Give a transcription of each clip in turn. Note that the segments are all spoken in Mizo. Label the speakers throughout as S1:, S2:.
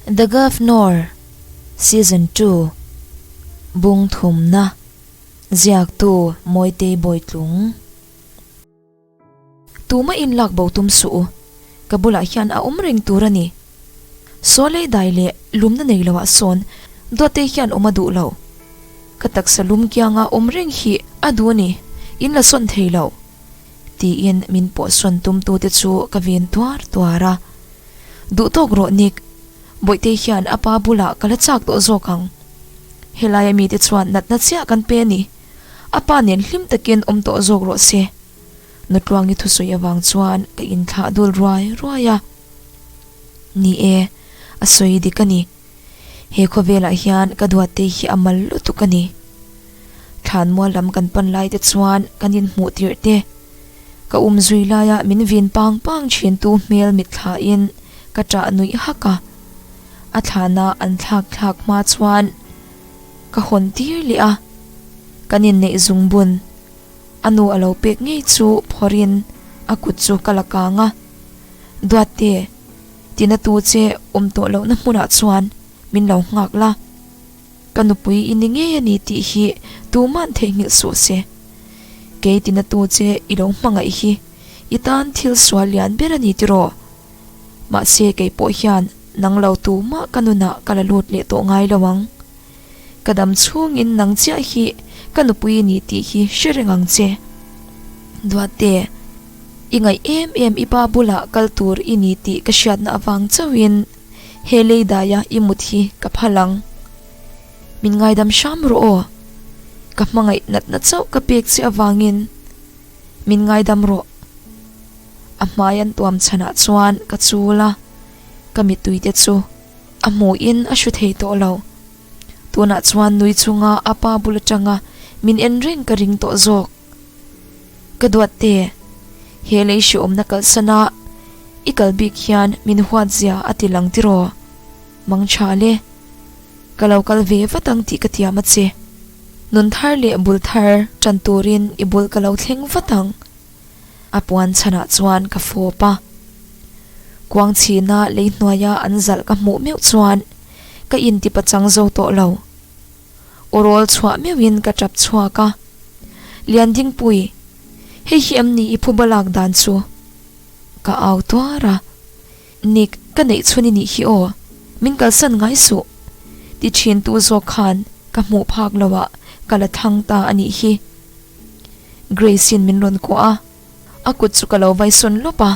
S1: The Governor, Season Two, Bung thumna, ziaktu Mawitei Bawitlung. Tuma in lak bo tum suh u, ka bulah hian a awm reng tur a ni. Sawlei dai leh lumna nei lo ah sawn Duattei hian awm a duh lo. Ka taksa lum kiang a awm reng hi a duh a ni, in la sawn thei lo. tiin min pawhsawn tumtute chu ka vin tuar tuar a. Duh tawk rawh Nick, Bawihte hian a pa bulah ka la chak tawh zawk ang. Helaia mite chuan natna chiah kan pe a ni, a pa nen hlim takin awm tawh zawk rawh se. Nutluangi thusawi avang chuan ka inthlah dul ruai ruai a. Ni e, a sawi dik a ni. He khawvelah hian ka duatte hi a mal lutuk a ni. Thlanmual lam kan pan laite chuan kan inhmuh tirh te. Ka um zui laia min vin pang pang thintu hmel mitthlahin ka ṭah nuih hak a. A thlana an thlak thlak hma chuan ka hawn tir leh a. Kan inneih zung bun a nu a lo pek ngei chu phawrhin a kut chu ka la kang a. Duatte! Ti na tu che awm tawh lohna hmunah chuan min lo nghak la, ka nupui i ni ngei a ni tih hi tumah theihnghilh suh se. Kei ti na tu che i lo hmangaih hi i tan thil sual lian ber a ni tiraw? Mahse kei pawh hian nang lo tumah ka nunah ka la lut leh tawh ngai lo ang. Ka dam chhungin nang chiah hi ka nupui a ni tih hi hre reng ang che. Duhte, i ngaih em em i pa bulah kal tur i ni tih ka hriatna avang chauhin he lei daia i mut hi ka phal ang. Min ngaidam hram rawh aw. Ka hmangaih natna chauh ka pek che avangin, Min ngaidam rawh. A hmai an tuam chhanah chuan ka chul a, ka mituite chu A hmuhin a hru thei tawh lo. Tunah chuan nui chunga a pa bul atanga min en reng ka ring tawh zawk. Ka duat te, he lei hre awmna kalsana i kal bik hian min huat zia a ti lang tiraw? Mangtha le, ka lo kal ve vat ang tih ka tiam a che. Nun thar leh bul thar tan turin i bul ka lo thleng vat ang. a puan chhanah chuan ka fawp a, kuang chhina lei hnuaia an zalh ka hmuh meuh chuan ka inti pachang zo tawh lo. U rawl chhuah meuhin ka tap chhuak a, Liandingpuii, hei hi em ni i phuba lak dan chu? Ka au tuar a, Nick, ka neih chhun i nih hi aw, min kalsan ngai suh, ti thin tu zawk khan ka hmuh phak loah ka la thang ta a nih hi. Grace-in min rawn kuah a, a kut chu ka lo vai sawn lawp a.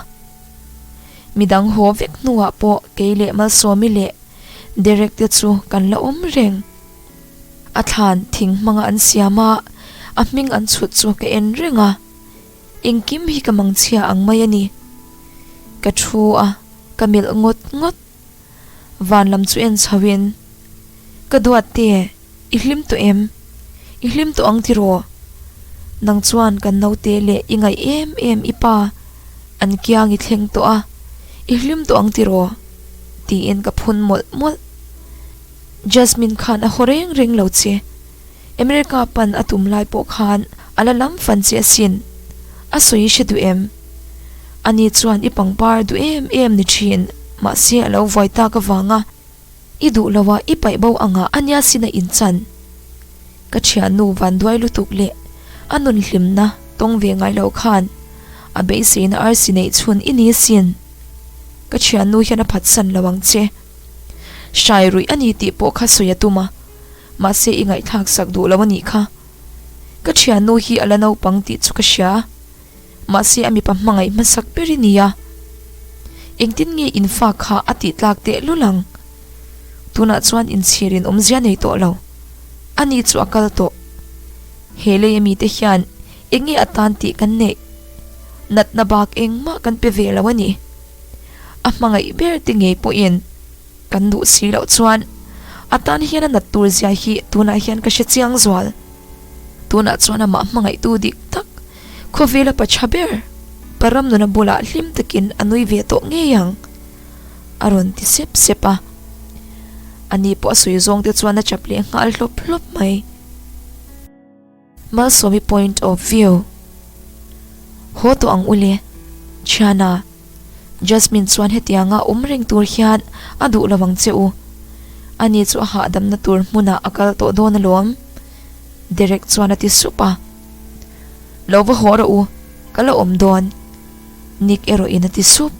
S1: Midang haw vek hnuah pawh kei leh Malsawmi leh Derek te chu kan la awm reng. A thlan thing hmanga an siam a, a hming an chhut chu ka en reng a. Engkim hi ka mangchhia ang mai a ni. Ka thu a, ka melh ngawt ngawt. Van lam chu en chho in, Ka duat te, i hlim tawh em? I hlim tawh ang tiraw? Nang chuan kan naute leh i ngaih em em i pa an kiang i thleng tawh a, i hlim tawh ang tiraw? tiin ka phun mawlh mawlh. Jasmine khan a haw reng reng lo che. America pan a tum lai pawh khan a la lam fan che a sin. A sawi hre duh em? Ani chuan i pangpar duh em em ni thin, mahse a lo vai tak avang a, i duh lo a i paih bo ang a ania sin a inchan. Ka thiannu vanduai lutuk leh a nun hlimna tawng ve ngai lo khan a beiseina arsi neih chhun i ni sin. Ka thiannu hian a phatsan lo ang che. Hrai ruih a ni tih pawh kha sawi a tum a, Mahse i ngaihthlak sak duh lo a nih kha. Ka thiannu hi a la naupang tih chu ka hria a, mahse a mipa hmangaih hmasak ber i ni a. Engtin nge in fa kha a tihtlak tehlul ang? Tunah chuan in chhirin awmzia nei tawh lo. A ni chu a kal tawh. He lei a mite hian eng nge a tan tih kan neih? Natna bak engmah kan pe ve lo a ni. A hmangaih berte ngei pawhin. Kan duh si loh chuan a tan hian a nat tur zia hi tunah hian ka hre chiang zual. Tunah chuan amah hmangaihtu dik tak khawvel a pacha ber pa Ramnuna bulah hlim takin a nui ve tawh ngei ang a rawn ti sep sep a. Ani pawh a sawi zawng te chuan a chap leh nghal hlawp hlawp mai. Malsawmi point of view haw tawh ang ule Chhiana, Jasmine chuan hetianga awm reng tur hian a duh lo ang che u, ani chu a hahdamna tur hmuna a kal tawh dawn alawm, Derek chuan a ti sup a. Lo va haw rawh u, ka la awm dawn, Nick erawh in a ti sup.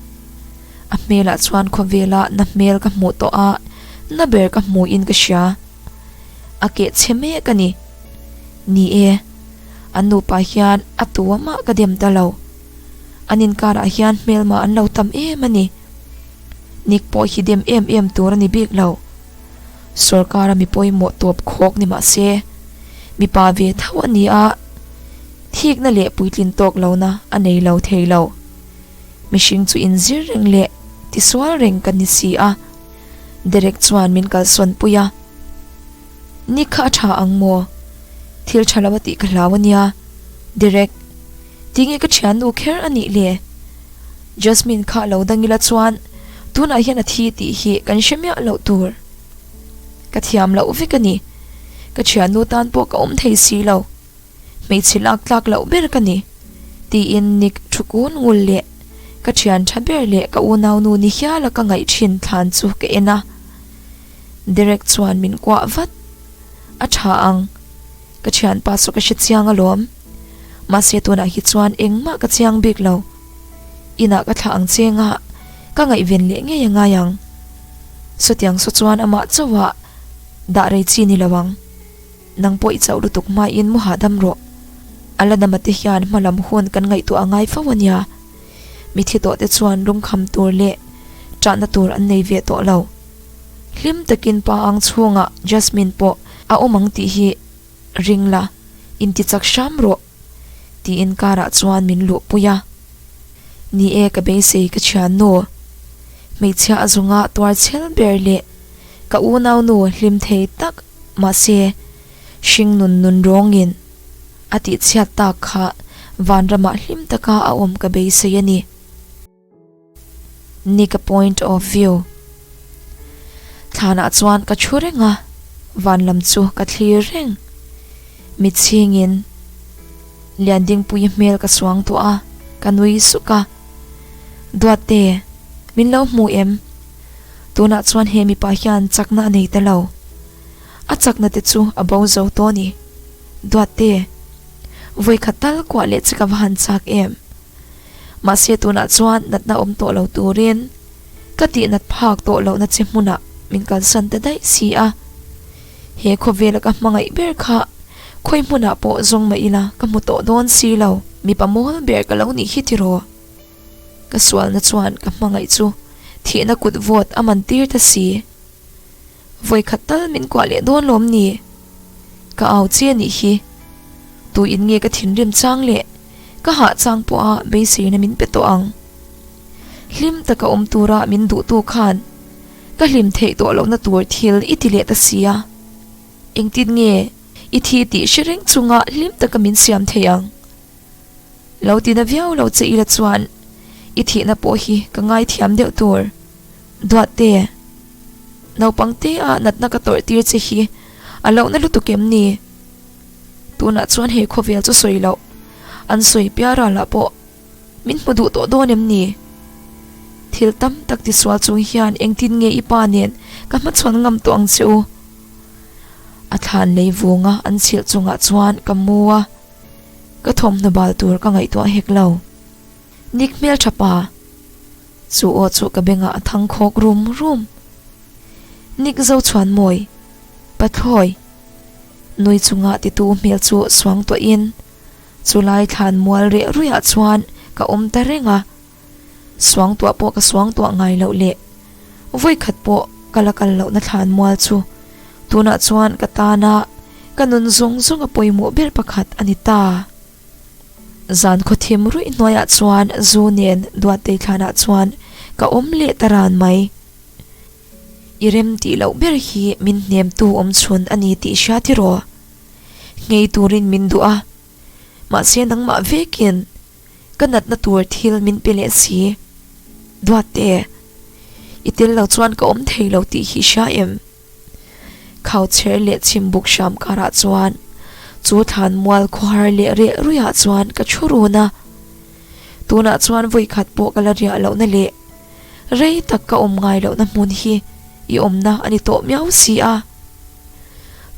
S1: A hmelah chuan khawvela na hmel ka hmuh tawh a, na ber ka hmuin ka hria. a keh chhe mek a ni. Ni e, an nupa hian a tuama ka dem ta lo. An inkarah hian hmelma an lo tam em a ni. Nik pawh hi dem em em tur a ni bik lo. Sorkara mi pawimawh tawp khawk ni mah se, mipa ve tho a ni a, thikna leh puitlin tawk lohna a nei lo thei lo. Mihring chu inzir reng leh tisual reng kan ni si a. Derek chuan min kalsawn pui a, Ni kha a tha ang maw? Thil tha lo a tih ka hlau a nia, Derek. Tinge ka thiannu kher a nih le? Jasmine kha lo dang ila chuan tunah hian a thi tih hi kan hre miah loh tur. Ka thiam loh vek a ni. Ka thiannu tan pawh ka awm thei si lo. Hmeichhe lak tlak loh ber ka ni, tiin Nick thu kun ngul leh ka thian tha ber leh ka unau nu ni hiala ka ngaih thin thlan chu ka en a. Derek chuan min kuah vat. A tha ang. Ka thianpa chu ka hre chiang alawm. Mahse tunah hi chuan engmah ka chiang bik lo. Inah ka thlah ang che nga, ka ngaihven leh ngei a ngai ang. Saw tiang saw chuan amah chauhah dah rei chi ni lo ang. Nang pawh i chauh lutuk hmain mu hahdam rawh. A la dama te hian hma lam hun kan ngaihtuah a ngai fo a nia. Mithi tawh te chuan lung kham tur leh chahna tur an nei ve tawh lo. Hlim takin pa ang chhungah Jasmine pawh a awm ang tih hi ring la, inti chak hram rawh. Tiin karah chuan min luhpui a, Ni e, ka beisei ka thian nu, hmeichhia a zunga tuar chhel ber leh ka unau nu hlim thei tak mahse hring nun nun rawngin a tihchhiat tak kha vanramah hlim taka a awm ka beisei a ni. Nika point of view thlanah chuan ka thu reng a, vanlam chu ka thlir reng. Mi chhingin Liandingpuii hmel ka suang tawh a, ka nui suk a. Duatte, min lo hmu em? Tunah chuan he mipa hian chakna a nei ta lo. A chakna te chu a bo zo tawh a ni. Duatte, vawikhat tal kuah leh che ka va han chak em? Mahse tunah chuan natna awm tawh lo turin ka tih nat phak tawh lohna che hmuna min kalsan ta daih si a. He khawvela ka hmangaih ber kha khawi hmunah pawh zawng mah ila ka hmu tawh dawn si lo. Mipa mawl ber ka lo nih hi tiraw? Ka sualna chuan ka hmangaih chu thihna kutvawt a man tir ta si. Vawi khat tal min kuah leh dawn lawm ni? Ka au che anih hi. Tui in nge ka thinrim chang leh ka hah chang pawha beisirna min pe tawh ang. Hlim taka awm tura min duhtu khan ka hlim theih tawh lohna tur thil i ti leh ta si a, engtin nge i thi tih hre reng chunga hlim taka min siam thei ang. Lo tina viau lo che ila chuan i thihna pawh hi ka ngaithiam deuh tur. Duahte, Naupang te a natna ka tawrh tir che hi a lohna lutuk em ni? Tunah chuan he khawvel chu sawi loh, an sawi piara lah pawh min hmu duh tawh dawn em ni? Thil tam tak ti sual chung hian engtin nge i pa nen ka hmachhuan ngam tawh ang che u? A thlan lei vunga an chhilh chungah chuan ka mu a, ka thawmhnaw bal tur ka ngaihtuah hek lo. Nik hmel tha pa. Chu aw chu ka bengah a thang khawk rum rum. Nik zo chhuan mawi, Pathlawi, nui chunga titu hmel chu suang tuahin chu lai thlan mual riah ruiha chuan ka awm ta reng a. Suang tuah pawh ka suang tuah ngai loh leh, vawi khat pawh ka la kal lohna thlan mual chu tunah chuan ka tana ka nun zawng zawnga pawimawh ber pakhat a ni ta. Zan khawthim ruih hnuaiah chuan zu nen Duattei thlanah chuan ka awm leh ta ran mai. I rem tih loh ber hi min hnemtu awmchhun a ni tih hria tiraw? Nghei turin min duh a, mahse nangmah vekin ka natna tur thil min pe leh si. Duatte, i tel lo chuan ka awm thei lo tih hi hria em? Khauchher leh chimbuk hram karah chuan chu thlan mual khuahar leh riah ruiah chuan ka thu run a. Tunah chuan vawikhat pawh ka la riah lohna leh rei tak ka awm ngai lohna hmun hi i awmna a ni tawh miau si a.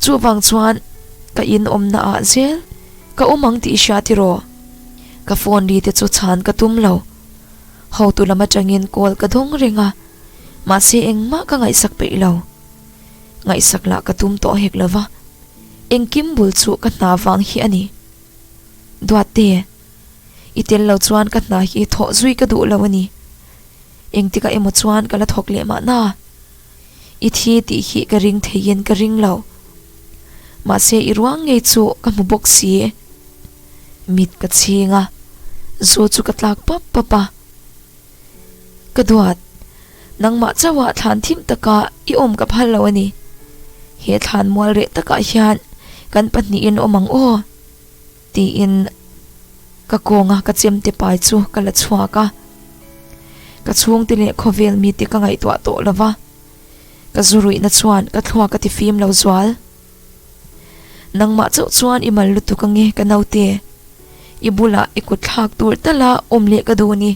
S1: Chuvang chuan ka in awmna ah zel ka awm ang tih hria tiraw? Ka phone ri te chu chhan ka tum lo. Hotu lam atangin call ka dawng reng a, mahse engmah ka ngaihsak peih lo. Ngaihsak lah ka tum tawh hek lova, engkim bul chu ka hna vang hi a ni. Duatte, i tel lo chuan ka hna hi thawh zui ka duh lo a ni. Engtikah emaw chuan ka la thawk leh mahna. I thi tih hi ka ring thei hian ka ring lo. Mahse i ruang ngei chu ka hmu bawk si. Mit ka chhing a, zu chu ka tlak pap pap a. Ka duat, nangmah chauha thlan thim taka i awm ka phal lo a ni. He thlan mual reh takah hian kan pahnihin awm ang aw. Tiin ka kawnga ka chemte pai chu ka la chhuak a, ka chhungte leh khawvel mite ka ngaihtuah tawh lo va, ka zu ruihna chuan ka thlua ka ti fim lo zual. Nangmah chauh chuan i mal lutuk ange ka naute, i bulah i kutthlak tur tala awm leh ka duh a ni.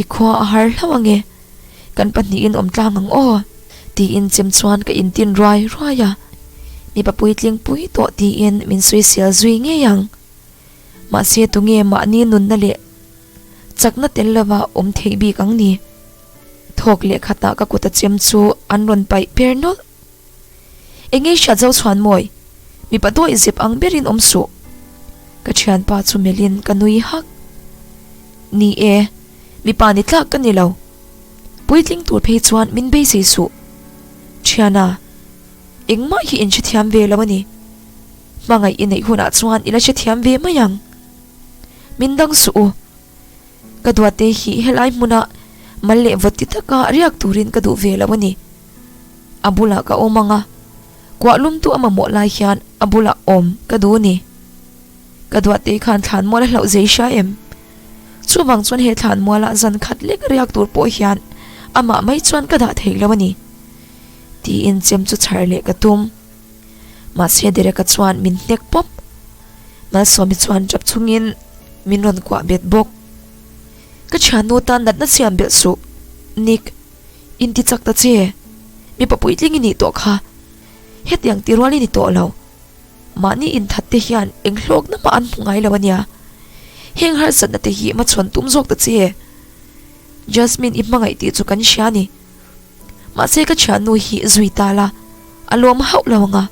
S1: I khua a har hlauh ange, kan pahnihin awm tlang ang aw, tiin chim chuan ka intin ruai ruai a. Mipa puitling pui tawh tiin min suisial zui ngei ang. Mahse tunge mahni nunna leh chakna tel lova awm theih bik ang ni? Thawk leh khatah ka kuta chem chu an rawn paih per nawlh. Eng nge hriat zo chhuan maw i? Mipa duai zep ang berin awm suh. Ka thianpa chu melhin ka nui hak. Ni e, mipa ni tlak ka ni lo. Puitling tur phei chuan min beisei suh. Thiana, engmah hi in hre thiam ve lo a ni. Hmangaih i neih hunah chuan i la hre thiam ve mai ang. Min dang suh u. Ka duate hi helai hmuna mal leh vawt ti taka riak turin ka duh ve lo a ni. a bulah ka awm anga kuah lum tu a mamawh lai hian a bulah awm ka duh ni ka duah tei khan thlan mual a hlauh zei hria em chuvang chuan he thlan muala zan khat lek riak tur pawh hian ama mai chuan ka dah thei lo ani ti in chem chu chhar leh ka tum ma se dere ka chuan min hnek pawp mal sawmi chuan chap chung in min ron kuah bet bawk ka chhian nu tan natna siam bel suh nik Inti chak ta che, mipa puitling i nih tawh kha, hetiang ti rual i ni tawh lo. Mahni inthat te hian eng hlawkna mah an hmu ngai lo a nia. Heng harsatna te hi hmachhuan tum zawk ta che. Jasmine i hmangaih tih chu kan hria a ni. Mahse ka thiannu hi zui ta la, a lawm hauh lo ang a.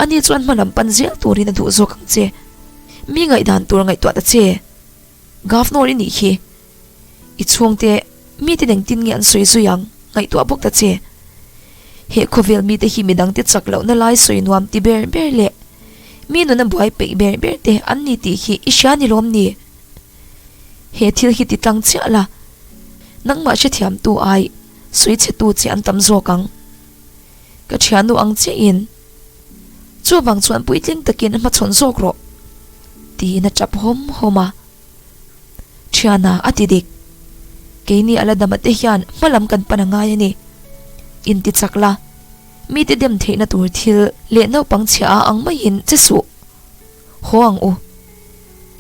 S1: Ani chuan hma lam pan zel turin a duh zawk ang che. Mi ngaihdan tur ngaihtuah ta che. Governor i nih khi. I chhungte mite neng tin nge an sawi zui ang? Ngaihtuah bawk ta che. He khawvel mite hi midang te chak lohna lai sawi nuam ti ber ber leh mi nuna buai peih ber ber te an ni tih hi i hria ni lawm ni? He thil hi ti tlang chiah la, nangmah hrethiamtu ai sawi chetu che an tam zawk ang. Ka thian nu ang che in, Chuvang chuan puitling takin hmachhawn zawk rawh, tiin a tap hawm hawm a. Thiana a ti dik. Keini ala dam ate hian hmalam kan pan angai a ni. In ti chak la. Mite dem theihna tur thil leh naupang chhia a ang maiin che suh. Haw ang u.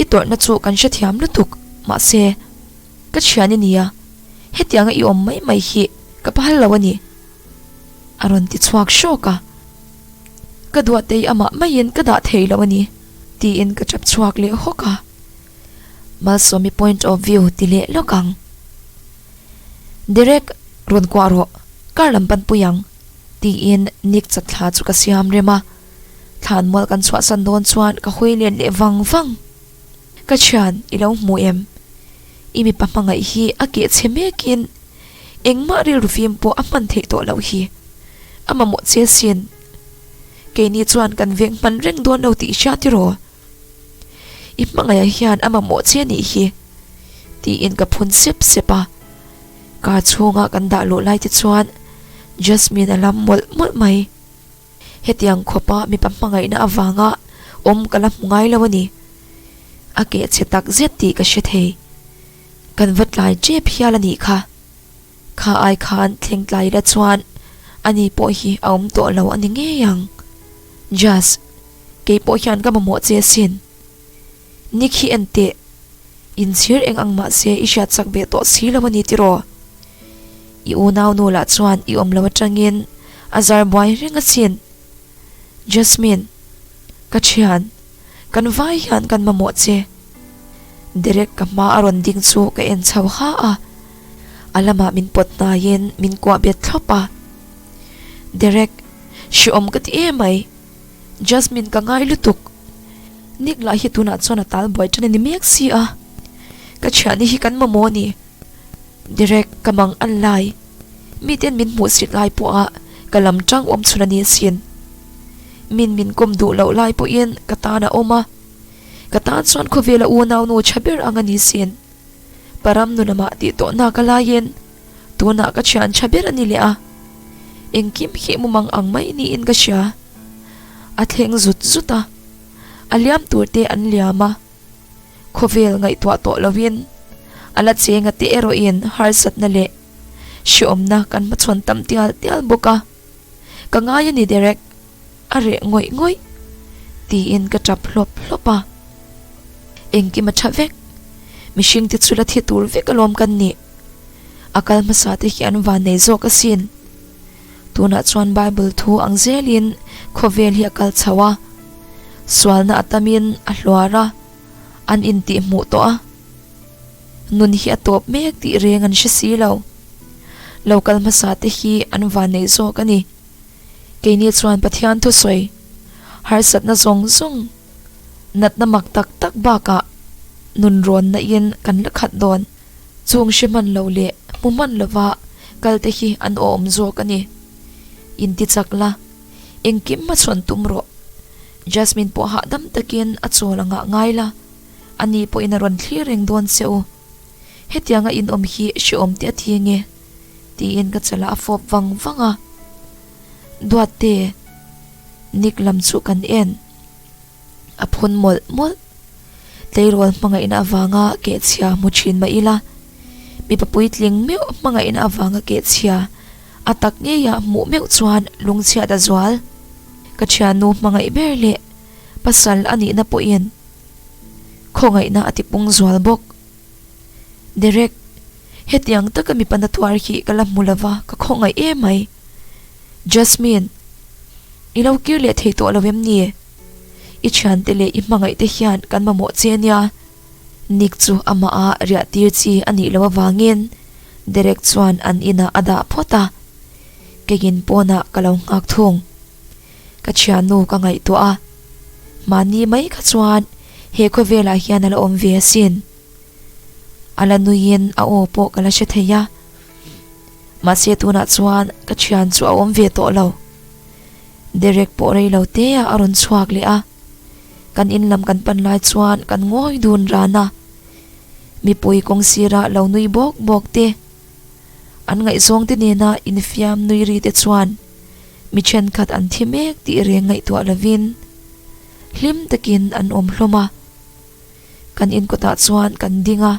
S1: I tawrhna chu kan hrethiam lutuk. Mahse, ka thian i nia. Hetianga i awm mai mai hi ka pa hal lo a ni. A rawn ti chhuak hrawk a. Ka duahtei amah maiin ka dah thei lo a ni. Tiin ka tap chhuak leh hawk a, Malsawmi point of view ti leh lawk ang. Direct rawn kuah rawh, kar lam pan pui ang, tiin Nick chat thla chu ka siam rem a, thlan mual kan chhuahsan dawn chuan ka hawi lian leh vang vang. Ka thian, i lo hmu em? I mipa hmangaih hi a keh chhe mekin engmah rilru fim pawh a hman theih tawh loh hi, a mamawh chian sin Keini chuan kan veng hman reng dawn lo tih hria tiraw? I hmangaihah hian a mamawh che nih hi, tiin ka phun sep sep a. Car chhunga kan dah luh lai te chuan Jasmine a lam mawlh mawlh mai. Hetiang khawpa mipa hmangaihna avanga awm ka la hmu ngai lo a ni. A keh chhe takzet tih ka hre thei. Kan va tlai tep hial a nih kha. Kha ai khan thlengtlai ila chuan ani pawh hi a awm tawh lo a ni ngei ang. Jaz, kei pawh hian ka mamawh che asin. Nick hi enteh in chhir eng ang mah se i hriat chak ve tawh si lo a ni tiraw? I unau nu lah chuan i awm lo atangin a zar buai reng asin. Jasmine, ka thian, kan vai hian kan mamawh che. Derek ka hma a rawn ding chu ka en chho ha a. a lamah min pawt hnaiin min kuah bet thlawp a. Derek, Hriawm ka ti em mai. Jasmine, Ka ngai lutuk. Nick lah hi tunah chuan a tal buai tan a ni mek si a. Ka chhiah ni hi kan mamawh a ni. Derek, Ka mang an lai. Miten min hmuh sik lai pawha ka lam tang awm chhun a ni sin. Min min kawm duh loh lai pawhin ka tan a awm a. Ka tan chuan khawvela unau nu tha ber ang a ni sin. Pa Ram nu lama tih tawh na ka lain tunah ka thian tha ber a ni leh a. Engkim khi mumang ang mai niin ka hria. A thleng zut zut a, a liam tur te an liam a. Khawvel ngaihtuah tawh lovin a la cheng ate erawhin harsatna leh hriawmna kan hmachhawn tam tial tial bawk a. Ka ngai a ni Derek, a reh ngawih ngawih tiin ka tap hlawp hlawp a. Engkim a tha vek, mihring te chu la thi tur vek alawm kan ni. A kal hmasa te hian van nei zawk a sin. Tunah chuan Bible thu ang zelin khawvel hi a kal chho a. Sualna a tamin a hluar a, an intih hmuh tawh a. nun hi a tawp mek tih reng an hre si lo. Lo kal hmasa te hi an van neih zawk a ni. Keini chuan Pathian thusawi, harsatna zawng zawng, natna mak tak tak bakah nun rawnna in kan la khat dawn. Chung hre hman lo leh hmu hman lova kal te hi an awm zawk a ni. In ti chak la, engkim a chhawn tum rawh. Jasmine pawh hahdam takin a chawl a ngah ngai la. A ni pawhin a rawn thlir reng dawn che u. Hetianga inawm hi hrehawm teh a ti enge? tiin ka chalh a a fawp vang vang a. Duatte Nick lam chu kan en a phun mawlh mawlh. Tleirawl hmangaihna avanga keh chhia hmu thin mah ila, mipa puitling meuh hmangaihna avanga keh chhia a tak ngei a hmuh meuh chuan lungchhiat a zual. Ka thiannu hmangaih ber leh pasal a nihna pawhin Khawngaihna a tipung zual bawk. Derek, Hetiang taka mi pana tuar hi ka la hmu lova, ka khawngaih e mai. Jasmine, I lo kir leh thei tawh lo em ni? I thiante leh i hmangaihte hian kan mamawh che nia. Nick chu amah a riah tir chi a nih loh avangin Derek chuan an inah a dah phawt a. Keiin pawnah ka lo nghakthung. Ka thiannu ka ngaihtuah a, mahni mai kha chuan he khawvelah hian a la awm ve asin. A la nuiin a aw pawh ka la hre thei a. Mahse tunah chuan ka thian chu a awm ve tawh lo. Derek pawh rei lo teah a rawn chhuak leh a. Kan in lam kan pan lai chuan kan ngawi dun ran a. Mipui kawng sira lo nui bawk bawk te, an ngaihzawngte nena infiam nui ri te chuan, mi thenkhat an thi mek tih reng ngaihtuah lovin hlim takin an awm hlawm a. Kan in kutah chuan kan ding a,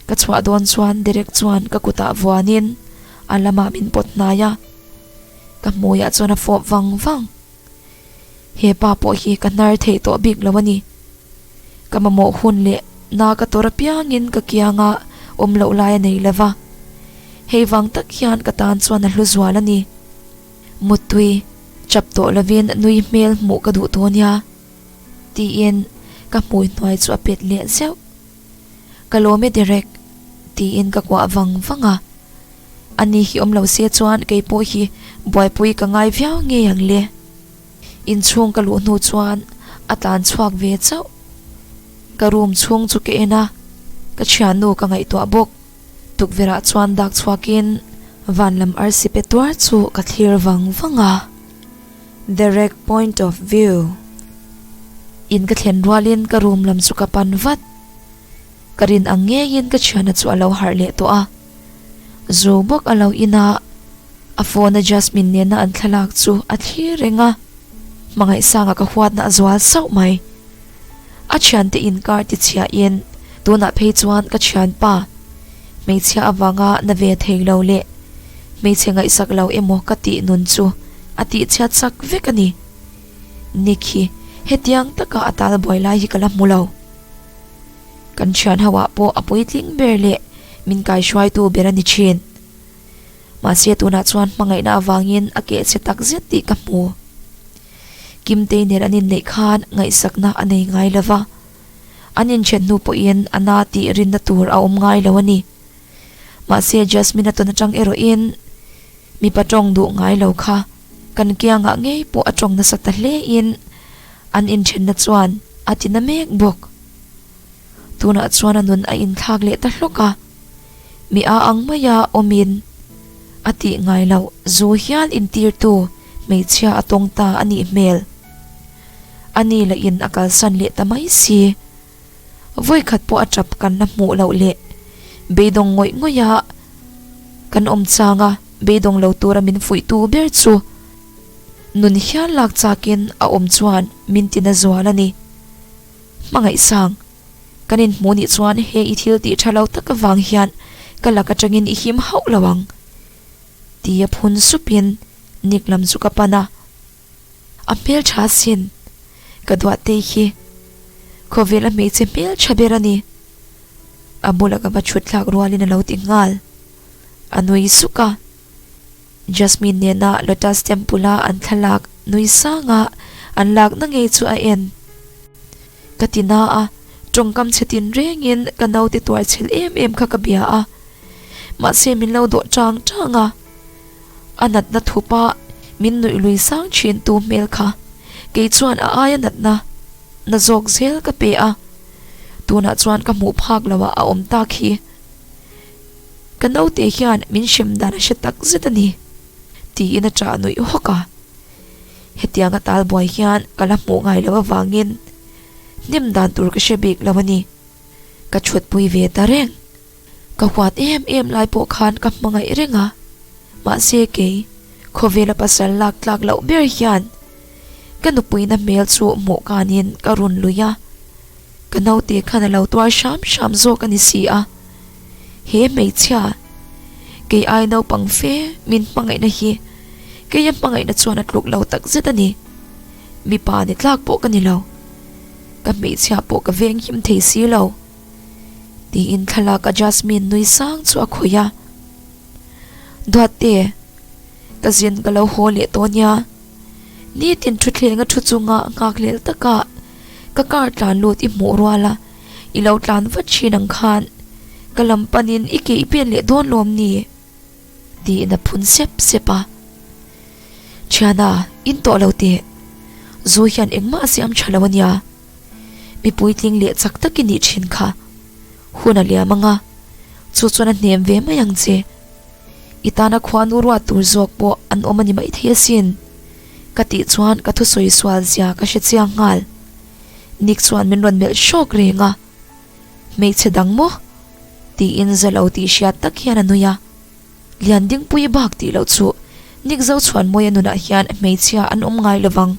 S1: ka chhuah dawn chuan Derek chuan ka kutah vuanin a lamah min pawt hnai a, ka hmuiah chuan a fawp vang vang. Hepa pawh hi ka hnar theih tawh bik lo a ni. Ka mamawh hun leh na ka tawrh apiangin ka kianga awm loh lai a nei lova. Hei vang tak hian ka tan chuan a hlu zual a ni. Mutui chap tawh lovin nui hmel hmuh ka duh tawh nia tiin ka hmui hnuai chu a pet leh zeuh. Ka lawm e Derek, tiin ka kuah vang vang a. Ani hi awm lo se chuan kei pawh hi Buaipui ka ngai viau ngei ang le. Inchhung ka luh hnu chuan a tlan chhuak ve chauh. Ka room chhung chu ka en a, ka thiannu ka ngaihtuah bawk. Tukverhah chuan dak chhuakin vanlam arsi pe tuar chu ka thlir vang vang a. Direct point of view in ka thlen rual in ka room lam chu ka pan vat. Ka rin ang ngei in ka thiana chu a lo harh leh tawh a. Zu bawk a lo in ah a phone a Jasmine nen a an thlalak chu a thlir reng a. Hmangaihsang ah ka huat na a zual sauh mai. A thiante inkar ti chiahin tunah phei chuan ka thianpa hmeichhia avanga na ve thei lo leh hmeichhe ngaihsak lo emaw ka tih nun chu a tihchhiat sak vek a ni. Nick hi hetiang taka a tal buai lai hi ka la hmu lo. Kan thian hoah pawh a puitling ber leh min kaihruaitu ber a ni thin. Mahse tunah chuan hmangaihna avangin a keh che takzet tih ka hmu. Kimtei nen an inneih khan ngaihsakna a nei ngai lo va, an inthiat hnu pawhin a na tih rinna tur a awm ngai lo a ni. Mahse Jasmine-a tawn atang erawhin mipa tawng duh ngai lo kha kan kiangah ngei pawh a tawng nasa ta hlein an inthenna chuan a ti na mek bawk. Tunah chuan a nun a inthlak leh ta hlawk a. mi a ang mai a awmin a tih ngai loh, zu hial intirtu hmeichhia a tawng ta a nih hmel. A ni la in a kalsan leh ta mai si. Vawikhat pawh a tap kan la hmuh loh leh beidawng ngawih ngawih a kan awm chang a, beidawng lo tura min fuih tu ber chu nun hial lak chakin a awm chuan min ti na zual a ni. Hmangaihsang, kan inhmuh nih chuan hei i thil tih tha lo tak avang hian ka lak atangin i him hauh lo ang, ti a phun supin Nick lam chu ka pan a. A hmeltha sin, ka duahte hi khawvela hmeichhe hmeltha ber a ni. A bula ka va thutthlak rualin a lo ti nghal, a nui suk a. Jasmine nena Lotus Temple-a an thlalak nui sanga an lak na ngei chu a en ka ti na a, tawngkam chhe tin rengin ka naute tuar chhel em em kha ka bia a, mahse min lo dawh chang chang a, a natna thupa min nuih lui sang thin tu hmel kha kei chuan a aia natna na zawk zel ka pe a, tunah chuan ka hmuh phak lo a a awm tak hi. Ka naute hian min hrem dan a hre tak zet a ni, tiin a chah nuih hawk a. Hetiang a tal buai hian ka la hmuh ngai loh avangin hnem dan tur ka hre bik lo a ni. Ka chhuatpui ve ta reng. Ka huat em em lai pawh khan ka hmangaih reng a, mahse kei khawvela pasal lak tlak loh ber hian ka nupuina hmel chu hmuh kanin ka run lui a. Ka naute khan a lo tuar hram hram zawk a ni si a, he hmeichhia kei ai naupang fe min hmangaihna hi kei a hmangaihna chuan a tluk lo tak zet a ni. Mipa ni tlak pawh ka ni lo, ka hmeichhia pawh ka veng him thei si lo, tiin thlalak a Jasmine nui sang chu a khawih a. Duatte, ka zin ka lo haw leh tawh nia, nitin thuthleng a thu chunga a nghak lel takah, Ka car tlan lut i hmuh rual a, i lo tlan vat thin ang khan ka lam panin i ke i pen leh dawn lawm ni? tiin a phun sep sep a. Thiana, in tawh lo teh. Zu hian engmah a siam tha lo a nia. Mi puitling leh chak tak i nih thin kha. Hun a liam anga, chu chuan a hnem ve mai ang che. I tana khuanu ruat tur zawk pawh an awm a ni maithei asin, ka tih chuan ka thusawi sual zia ka hre chiang nghal. Nick chuan min rawn melh hrawk reng a, Hmeichhe dang maw? tiin za lo tih hriat tak hian a nui a. Lian dingpui bak tih loh chu, Nick zo chhuanmawia nunah hian hmeichhia an awm ngai lovang.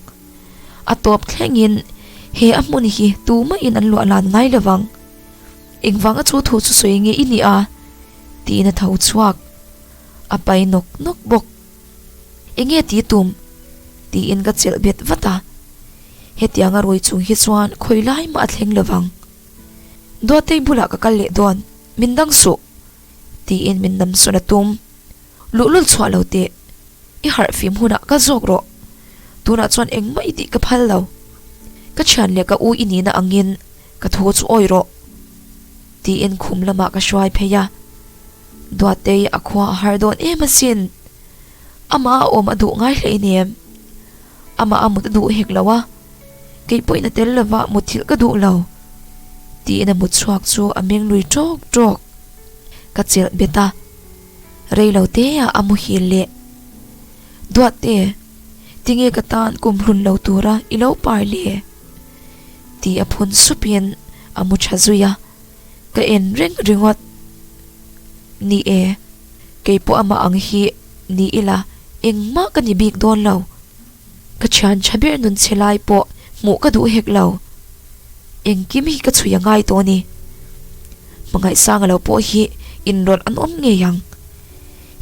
S1: A tawp thlengin, He a hmun hi tu mahin an luah lan ngai lovang. Engvanga chu thu chu sawi nge i nih a? tiin a tho chhuak. A pai nawk nawk bawk. Enge ti tum? tiin ka chelh bet vat a. Hetianga ruai chung hi chuan khawi lai mah a thleng lo vang. Duatei bulah ka kal leh dawn. Min dang suh. Tiin min namsawn a tum. Luhlul chhuah lo teh. I harh fim hunah ka zawk rawh. Tunah chuan engmah i tih ka phal lo. Ka thian leh ka u i nihna angin. Ka thu chu awih rawh, tiin khum lamah ka hruai phei a. Duattei a khua a har dawn em asin. Amah a awm a duh ngai hlei ni em? Amah a mut a duh hek lo a, kei pawhin a tel lova mutthilh ka duh lo, tiin a mutchhuak chu a meng lui tawk tawk. Ka chelh bet a, reilo teah a muhil leh. Duatte, tinge ka tan kum hlun lo tura i lo par le? Tih a phun supian a mu tha zui a, ka en reng ringawt. Ni e, kei pawh amah ang hi ni ila engmah ka ni bik dawn lo. Ka thian tha ber nun che lai pawh hmuh ka duh hek lo. Engkim hi ka chhui a ngai tawh a ni. Hmangaih sanga lo pawh hi inrawlh an awm ngei ang.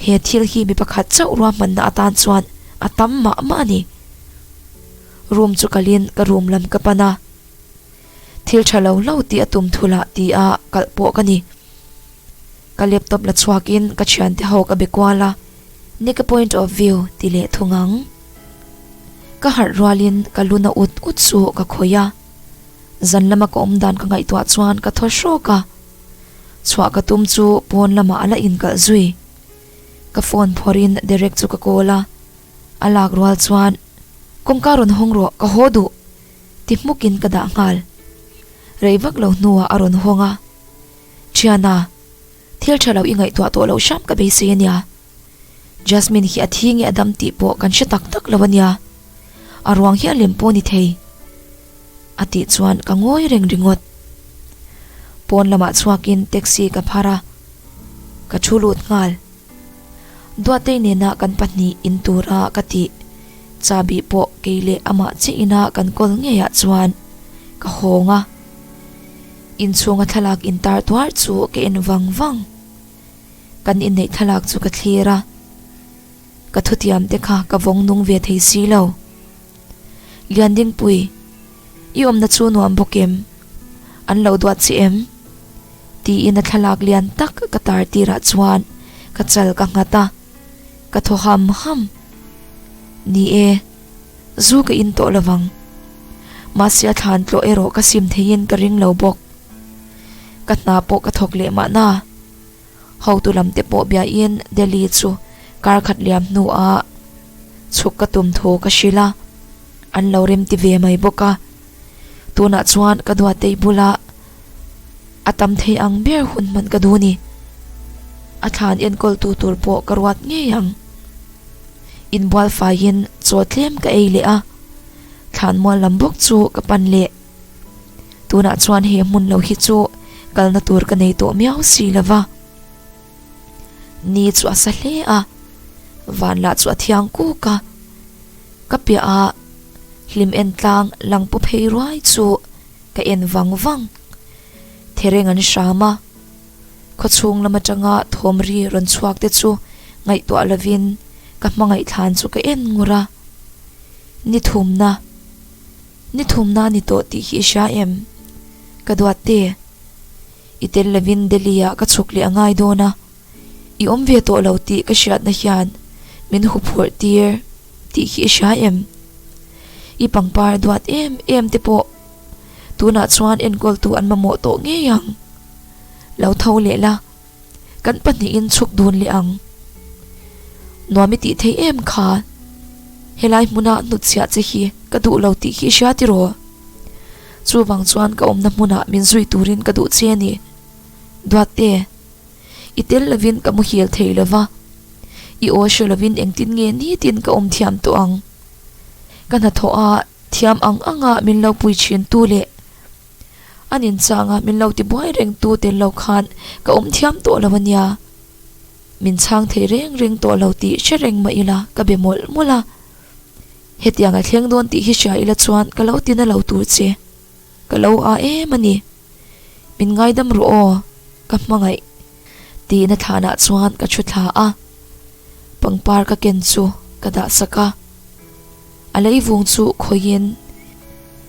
S1: He thil hi mi pakhat chauh ruahmanna atan chuan a tam mah mah a ni. room chu kalhin ka room lam ka pan a, thil tha lo lo tih a tum thu lah ti a kalh pawh ka ni. Ka laptop la chhuak in ka thiante ho ka be kual a, ni ka point of view ti leh thu ngang. Ka harh rual in ka lu na ut ut chu ka khawih a, zan lama ka awm dan ka ngaihtuah chuan ka thaw hrawk a, chhuah ka tum chu pawn lama a la in kalh zui. Ka phone phawrh in Derek chu ka call a, a lak rual chuan. Kawngka rawn hawng rawh, ka haw duh. Ti hmukin ka dah nghal. Rei vak lo hnuah a rawn hawng a, Ṭhiana, thil ṭha lo i ngaihtuah tawh loh hram ka beisei a nia. Jasmine hi a thi nge a dam tih pawh kan hre tak tak lo a nia. A ruang hian lem pawh ni thei. A tih chuan ka ngawi reng ringawt. Pawn lamah chhuakin taxi ka phar a, ka ṭhu lut nghal. Duatei nena kan pahnih in tura ka ti Cha bih pawh kei leh amah che ina kan kawl ngei ah chuan ka hawng a, in chhunga thlalak in tar tuar chu ka en vang vang, kan inneih thlalak chu ka thlir a, ka thutiam te kha ka vawng nung ve thei si lo. Liandingpuii, i awmna chu nuam bawk em? An lo duat chi em? Tiin a thlalak lian tak ka tar tirah chuan ka chal ka nghat a, ka thaw ham ham. Ni e, zu ka in tawh lovang. Mahse a thlan tlawh erawh ka sim theiin ka ring lo bawk. Ka hna pawh ka thawk leh mahna. Hotu lam te pawh biahin Delhi chu kar khat liam hnuah chhuk ka tum tho ka hrilh a, an lo rem ti ve mai bawk a. Tunah chuan ka duatei bula a tam thei ang ber hun hman ka duh ni. A thlan enkawltu tur pawh ka ruat ngei ang. Inbual faiin chaw tlem ka ei leh a, thlan mual lam bawk chu ka pan leh. Tunah chuan he hmun lo hi chu kalna tur ka nei tawh miau si lova. Ni chu a sa hle a, van lah chu a thiang kuk a. Ka pia a hlim en tlang lang pu phei ruai chu ka en vang vang. Thereng an hram a, khaw chhung lam atanga thawmri rawn chhuak te chu ngaihtuah lovin ka hmangaih thlan chu ka en ngur a. Ni thumna. Ni thumna a ni tawh tih hi i hria em? Ka duatte. I tel lovin Delhi-ah ka chhuk leh a ngai dawn a, i awm ve tawh lo tih ka hriatna hian min huphurh tir tih hi i hria em? I pangpar duat em em te pawh tunah chuan enkawltu an mamawh tawh ngei ang. Lo tho leh la. Kan pahnihin chhuk dun leh ang nuam i tih theih em kha. Helai hmuna hnut chhiah che hi ka duh lo tih khi hria tiraw? Chuvang chuan ka awmna hmuna min zui turin ka duh che a ni. Duatte, i tel lovin ka muhil thei lo va, i aw hre lovin engtin nge nitin ka awm thiam tawh ang? Ka hnathawha thiam ang anga min lo pui thin tu leh. An inchangah min lo ti buai reng tu tel lo khan ka awm thiam tawh lo a nia. Min chang thei reng reng tawh lo tih hre reng mah ila ka be mawlh mawlh a. Hetiang a thleng dawn tih hi hria ila chuan ka lo ti na lo tur che. Ka lo a em a ni. Min ngaidam rawh aw, ka hmangaih. Tih na thlanah chuan ka thu thla a. Pangpar ka ken chu ka dahsak a. A leivung chu khawiin,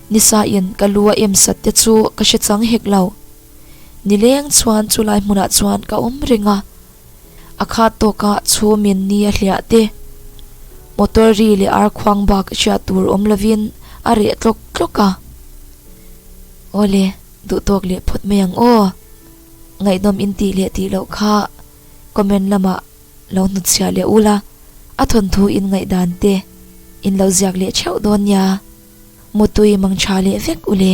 S1: Nisain ka lu a em sat te chu ka hre chang hek lo. Nileng chuan chu lai hmunah chuan ka awm reng a. A khat tawka chhum in ni a hliah te, motor ri leh ar khuang bak hria tur awm lovin a reh tlawk tlawk a. Aw le, duh tawk leh phawt mai ang aw. Ngaihnawm in tih leh tih loh kha comment lamah. lo hnut chhiah leh ul a, a thawnthu in ngaih dan te in lo ziak leh theuh dawn nia, mutui mang tha leh vek u le.